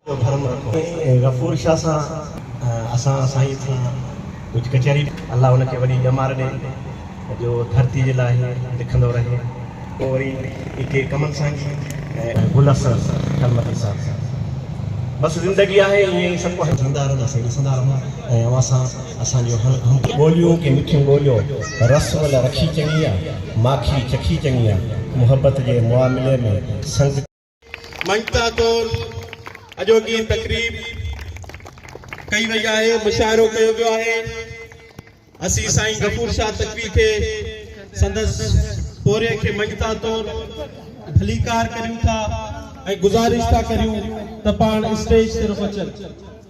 جو ڀرم رکو سائين غفور شاھ سان اسان سائين سان ڪجھ ڪچھري ڪري الله ان کي وڏي ڄمار ڏي جو ڌرتي جي لاء ھي لکندو رھي پوء وري اي ڪي ڪمن سانگي ۽ گل اثر ڪلمتي صاحب سان بس زندگي آھي ائين ئي سڀ ڪو جيئندا رھنداسين ڏسندا رھون ۽ اوھان سان اسان جون ھم ٻوليون ڪي مٺيون ٻوليو رس ول رکي چڱي آ ماکي چکي چڱي آ محبت جي معاملي ۾ سنگ. مڃتا طور اڄوڪي تقريب ڪئي وئي آهي مشاعرو ڪيو ويو آهي اسين سائين غفور شاهه تقوي کي سندس پوري کي مڃتا طور ڀليڪار ڪريون ٿا ۽ گزارش ٿا ڪريون ته پاڻ اسٽيج طرف اچن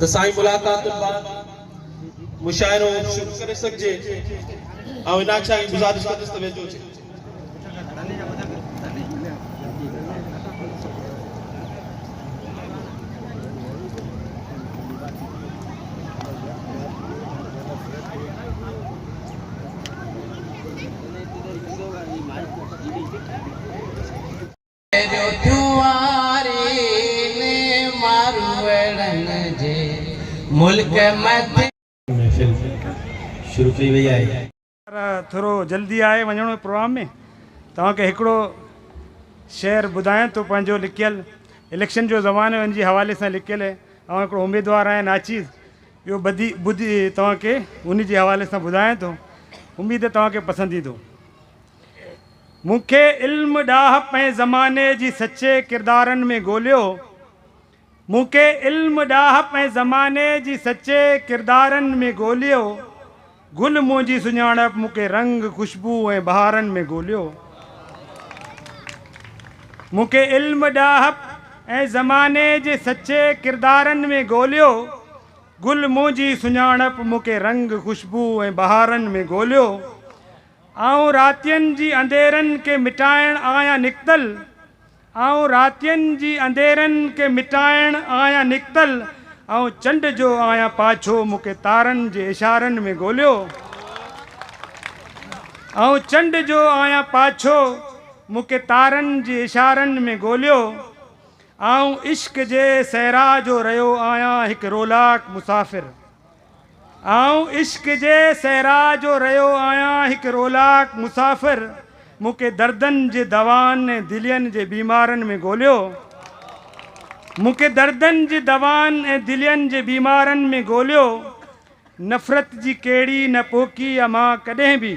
ته سائين ملاقاتن بعد مشاعرو شروع ڪري سگهجي آئون ان آڇيان جي گذارش ڪندس ته ويجهو اچي. جو جوارين ماروئڙن جي ملڪ مٿي. محفل شروع ڪئي وئي آهي. يار ٿورو جلدي آهي وڃڻو هي پروگرام ۾ توهان کي هڪڙو شعر ٻڌايان ٿو پنهنجو لکيل اليڪشن جو زمانو هي ان جي حوالي سان لکيل هي آئون هڪڙو اميدوار آهيان ناچيز اهو ٻڌي ٻڌي توهان کي ان جي حوالي سان ٻڌايان ٿو اميد هي توهان کي پسند ايندو. مون کي علم ڏاهپ ۽ زماني جي سچي ڪردارن ۾ ڳوليو مون کي علم ڏاهپ ۽ زماني جي سچي ڪردارن ۾ ڳوليو گل منهنجي سڃاڻپ مون کي رنگ خوشبو ۽ بهارن ۾ ڳوليو مون کي علم ڏاهپ ۽ زماني جي سچي ڪردارن ۾ ڳوليو گل منهنجي سڃاڻپ مون کي رنگ خوشبو ۽ بهارن ۾ ڳوليو آئون راتين جي انڌيرن کي مٽائڻ آهيان نڪتل آئون راتين جي انڌيرن کي مٽائڻ آهيان نڪتل آئون چنڊ جو آهيان پاڇو مون کي تارن جي اشارن ۾ ڳوليو آئون چنڊ جو آهيان پاڇو مون کي تارن جي اشارن ۾ ڳوليو آئون عشق جي صحرا جو رهيو آهيان هڪ رولاڪ مسافر آئون عشق جي صحرا جو رهيو آهيان هڪ رولاڪ مسافر مون کي دردن جي دوائن ۽ دلين جي بيمارن ۾ ڳوليو مون کي دردن جي دوائن ۽ دلين جي بيمارن ۾ ڳوليو نفرت جي ڪهڙي نه پوکي امان ڪڏهن به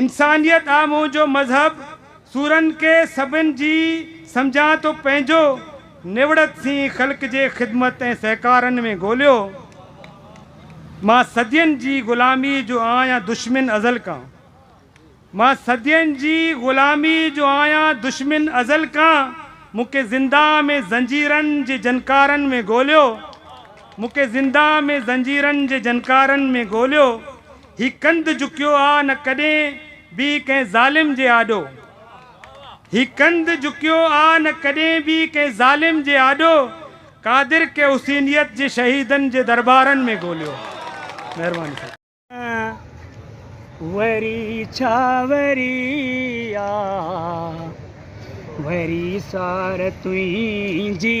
انسانيت آ منهنجو مذهب سورن کي سڀن جي سمجهان ٿو پنهنجو نوڙت سين خلق جي خدمت ۽ سهڪارن ۾ ڳوليو مان صدين جي غلامي جو آهيان دشمن ازل کان مان صدين جي غلامي جو آهيان دشمن ازل کان مون کي زندان ۾ زنجيرن جي جنڪارن ۾ ڳوليو مون کي زندان ۾ زنجيرن جي جنڪارن ۾ ڳوليو هي ڪنڌ جهڪيو آ نه ڪڏهن به ڪنهن ظالم جي آڏو هي ڪنڌ جهڪيو آ نه ڪڏهن به ڪنهن ظالم جي آڏو قادر ڪي حسينيت جي شهيدن جي دربارن ۾ ڳوليو مهرباني سان. وري ڇا وري آ وري سار تنهنجي.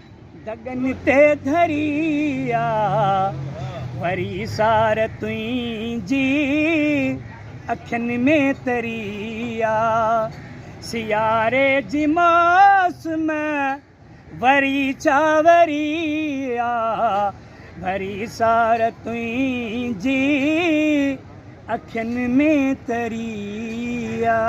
دڳن تي ڌري آ وري سار تنهنجي اکين ۾ تري آ سياري جي ماس ۾ وري چاوري آ وري سار تنهنجي اکين ۾ تري آ.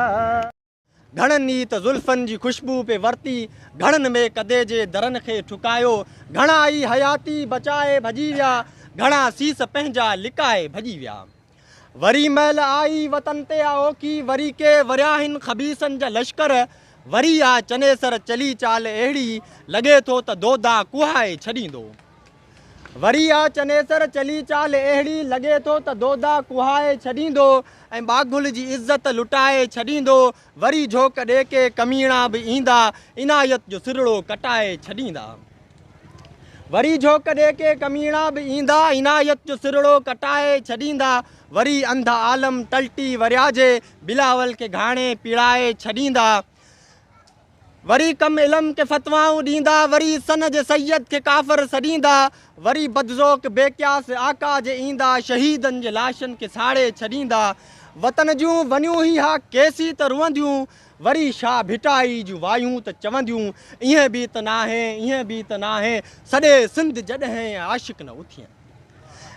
گهڻن ئي ته زلفن جي خوشبو پئي ورتي، گهڻن مئي قدي جي درن کي ٺڪايو، گهڻا ئي حياتي بچائي ڀڄي ويا، گهڻا سيس پنهنجا لڪائي ڀڄي ويا. وري مئل آئي وطن تي آ اوکي، وري ڪي ورياهين خبيثن جا لشڪر، وري آ چنيسر چلي چال اهڙي، لڳي ٿو ته دودا ڪوهائي ڇڏيندو. وري آ چنيسر چلي چال اهڙي، لڳي ٿو ته دودا ڪوهائي ڇڏيندو ۽ ٻاگهل جي عزت لٽائي ڇڏيندو، وري جهوڪ ڏي ڪي ڪميڻا به ايندا، عنايت جو سرڙو ڪٽائي ڇڏيندا. وري جهوڪ ڏي ڪي ڪميڻا به ايندا، عنايت جو سرڙو ڪٽائي ڇڏيندا، وري انڌ عالم ٽلٽي ورياجي، بلاول کي گهاڻي پيڙائي ڇڏيندا. وري ڪم علم کي فتوائون ڏيندا، وري سن جي سيد کي ڪافر سڏيندا، وري بدذوق بي قياس آقا جي ايندا، شهيدن جي لاشن کي ساڙي ڇڏيندا، وطن جون ونيون هي ها ڪيسي ته روئنديون، وري شاهه ڀٽائي جون وايون ته چونديون، ايئن به ته ناهي، ايئن به ته ناهي، سڏي سنڌ جڏهين عاشق نه اٿين.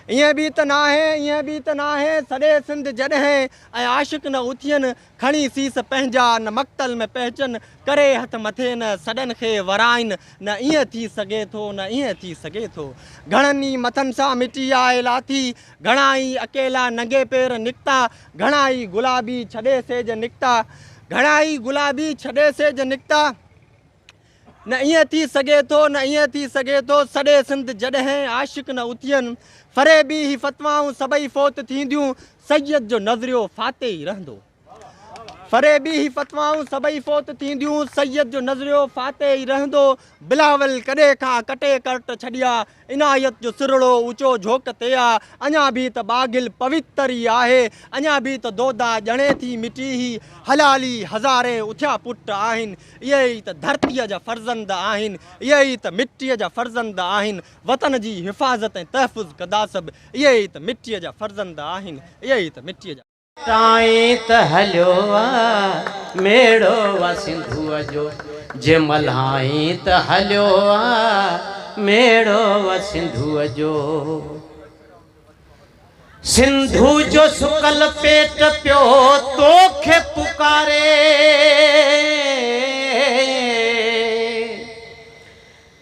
ايئن به ته ناهي، ايئن به ته ناهي، سڏي سنڌ جڏهين عاشق نه اٿين، کڻي سيس پنهنجا نه مقتل ۾ پهچن، ڪري هٿ مٿي نه سڏن کي ورائين، نه ائين ٿي سگهي ٿو، نه ائين ٿي سگهي ٿو. گهڻن ئي مٿن سان مٽي آء لاٿي، گهڻا ئي اڪيلا ننگي پير نڪتا، گهڻا ئي گلابي ڇڏي سيج نڪتا، گهڻا ئي گلابي ڇڏي سيج نڪتا. نه ائين ٿي سگهي ٿو، نه ائين ٿي سگهي ٿو، سڏي سنڌ جڏهن عاشق نه اٿين، فريبي هي فتوائون سڀئي فوت ٿينديون، سيد جو نظريو فاتح ئي رهندو. فريبي هي فتوائون سڀئي فوت ٿينديون، سيد جو نظريو فاتح ئي رهندو، بلاول ڪڏهن کان ڪٽي ڪرٽ ڇڏيا، عنايت جو سرهڙو اوچو جهوڪ تي آ، اڃا به ته ٻاگهل پويتر ئي آهي، اڃا به ته دودا ڄڻي ٿي مٽي هي حلالي هزارين اٿيا پٽ آهن، اهي ئي ته ڌرتيء جا فرزند آهن، اهي ئي ته مٽيء جا فرزند آهن، وطن جي حفاظت ۽ تحفظ ڪنداسب، اهي ئي ته مٽيء جا فرزند آهن، اهي ئي ته مٽيء جا. تائين ته هليو آ ميڙو آ سنڌوء جو. جي ملهائين ته هليو آ ميڙو آ سنڌوء جو. سنڌوء جو سڪل پيٽ پيو تو کي پڪاري.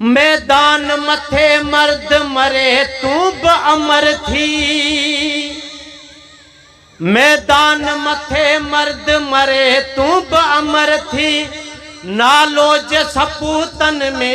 ميدان مٿي مرد مري تون به امر ٿي. ميدان مٿي مرد مري تون به امر ٿي نالو جي سپوتن ۾.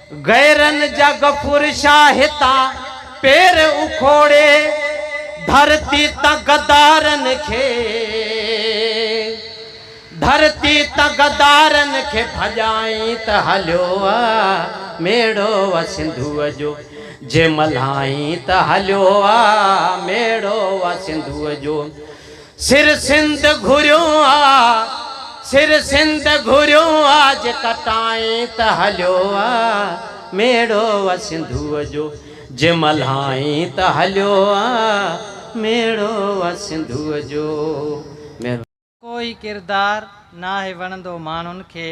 غيرن جا غفور شاهه هتان پير اکوڙي، ڌرتي تان غدارن کي، ڌرتي تان غدارن کي ڀڄائين ته هليو وء ميڙو وء سنڌوء جو، جي ملهائين ته هليو وء ميڙو وء سنڌوء جو. سر سنڌ گهريو آ، سر سنڌ گهريو آ، جي ڪٽائين ته هليو آ، ميڙو آ سنڌوء جو، جي ملهائين ته هليو آ، ميڙو آ سنڌوء جو. چڱو ڪو ئي ڪردار ناهي وڻندو ماڻهن کي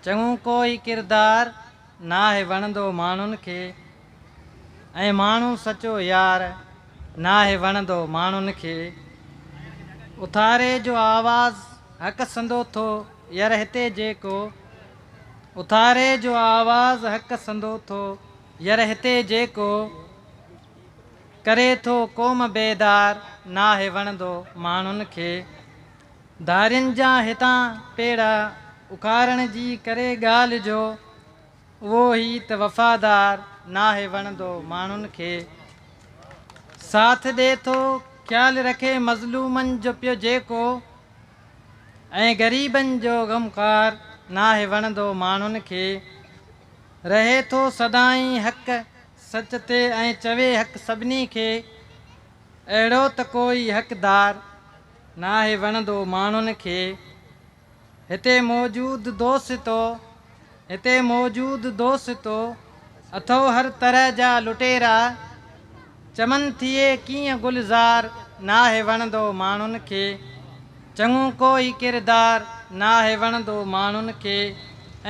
چڱو ڪو ئي ڪردار. ناهي وڻندو ماڻهن کي ۽ ماڻهو سچو يار ناهي وڻندو ماڻهن کي اٿاري جو آواز حق سندو ٿو ير هتي جيڪو اٿاري جو آواز حق سندو ٿو ير هتي جيڪو ڪري ٿو قوم بيدار ناهي وڻندو ماڻهن کي. ڌارين جا هتان پيڙا اکارڻ جي ڪري ڳالهه جو اهو هي ته وفادار ناهي وڻندو ماڻهن کي ساٿ ڏي ٿو خيال رکي مظلومن جو پيو جيڪو ۽ غريبن جو غمخوار ناهي وڻندو ماڻهن کي رهي ٿو سدائين حق سچ تي ۽ چوي حق سڀني کي اهڙو ته ڪوئي حقدار ناهي وڻندو ماڻهن کي. هتي موجود دوستو هتي موجود دوستو اٿئو هر طرح جا لٽيرا چمن ٿئي ڪيئن گلزار ناهي وڻندو ماڻهن کي چڱو ڪوئي ڪردار ناهي وڻندو ماڻهن کي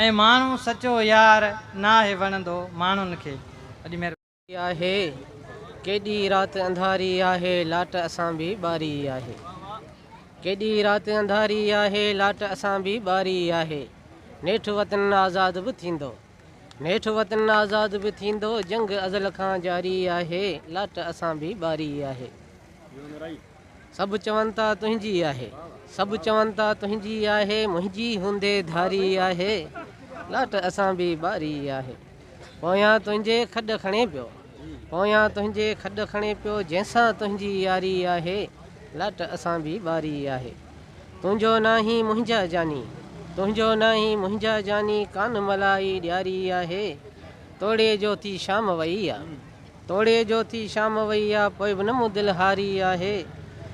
۽ ماڻهو سچو يار ناهي وڻندو ماڻهن کي. آهي ڪيڏي رات انڌاري آهي لاٽ اسان به ٻاري آهي ڪيڏي رات انڌاري آهي لاٽ اسان به ٻاري آهي نيٺ وطن آزاد به ٿيندو نيٺ وطن آزاد به ٿيندو جنگ ازل کان جاري آهي لاٽ اسان به ٻاري آهي سڀ چون ٿا تنهنجي آهي. سڀ چون ٿا تنهنجي آهي. منهنجي هوندي ڌاري آهي. لاٽ اسان به ٻاري آهي. پويان تنهنجي کڏ کڻي پيو. پويان تنهنجي کڏ کڻي پيو. جنهن سان تنهنجي ياري آهي. لاٽ اسان به ٻاري آهي. تنهنجو ناهين منهنجا جاني. تنهنجو ناهين منهنجا جاني. ڪان ملائي ڏياري آهي. توڙي جوتي شام وئي آ. توڙي جو ٿي شام وئي آ، پوء به نه مون دل هاري آهي.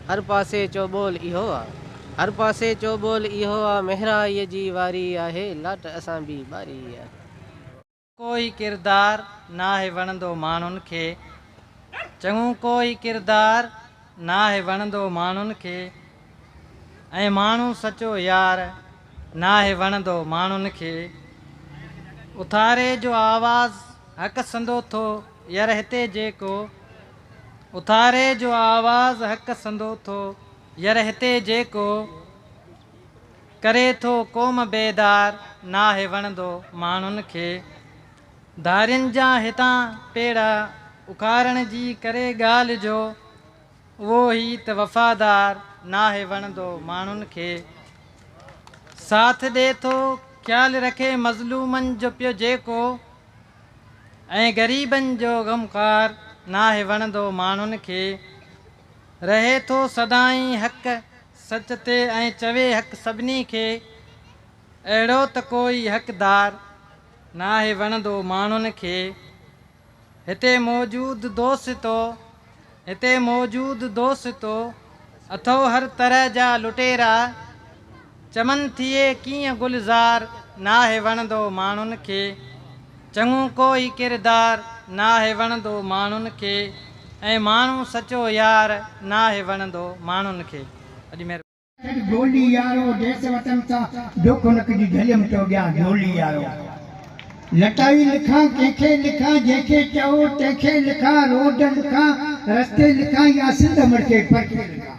هر پاسي چؤ ٻول اهو آ. هر پاسي چؤ ٻول اهو آ، مهرائيء جي واري آهي، لاٽ اسان ٻي ٻاري آهي. ڪو هي ڪردار ناهي وڻندو ماڻهن کي، چڱو ڪو هي ڪردار ناهي وڻندو ماڻهن کي ۽ ماڻهو سچو يار ناهي وڻندو ماڻهن کي. اٿاري جو آواز حق سندو ٿو ير هتي جيڪو اٿاري جو آواز حق سندو ٿو ير هتي جيڪو ڪري ٿو قوم بيدار ناهي وڻندو ماڻهن کي. ڌارين جا هتان پيڙا اکارڻ جي ڪري ڳالهه جو اهو هي ته وفادار ناهي وڻندو ماڻهن کي ساٿ ڏي ٿو خيال رکي مظلومن جو پيو جيڪو ۽ غريبن جو غمخوار ناهي وڻندو ماڻهن کي رهي ٿو سدائين حق سچ تي ۽ چوي حق سڀني کي اهڙو ته ڪوئي حقدار ناهي وڻندو ماڻهن کي. هتي موجود دوستو، هتي موجود دوستو، اٿئو هر طرح جا لٽيرا، چمن ٿئي ڪيئن گلزار، ناهي وڻندو ماڻهن کي، چڱو ڪوئي ڪردار، ناهي وڻندو ماڻهن کي، ۽ ماڻهو سچو يار، ناهي وڻندو ماڻهن کي. ڪر جهولي يارو ديس وطن سان دوک نڪ جي جهليم ٿو ڏيان جهولي يارو لٽائي لکان ڪنهن کي لکان جنهن کي چئو تنهن کي لکان روڊ لکان رستي لکان يا سنڌ امڙ کي پرکي لکان.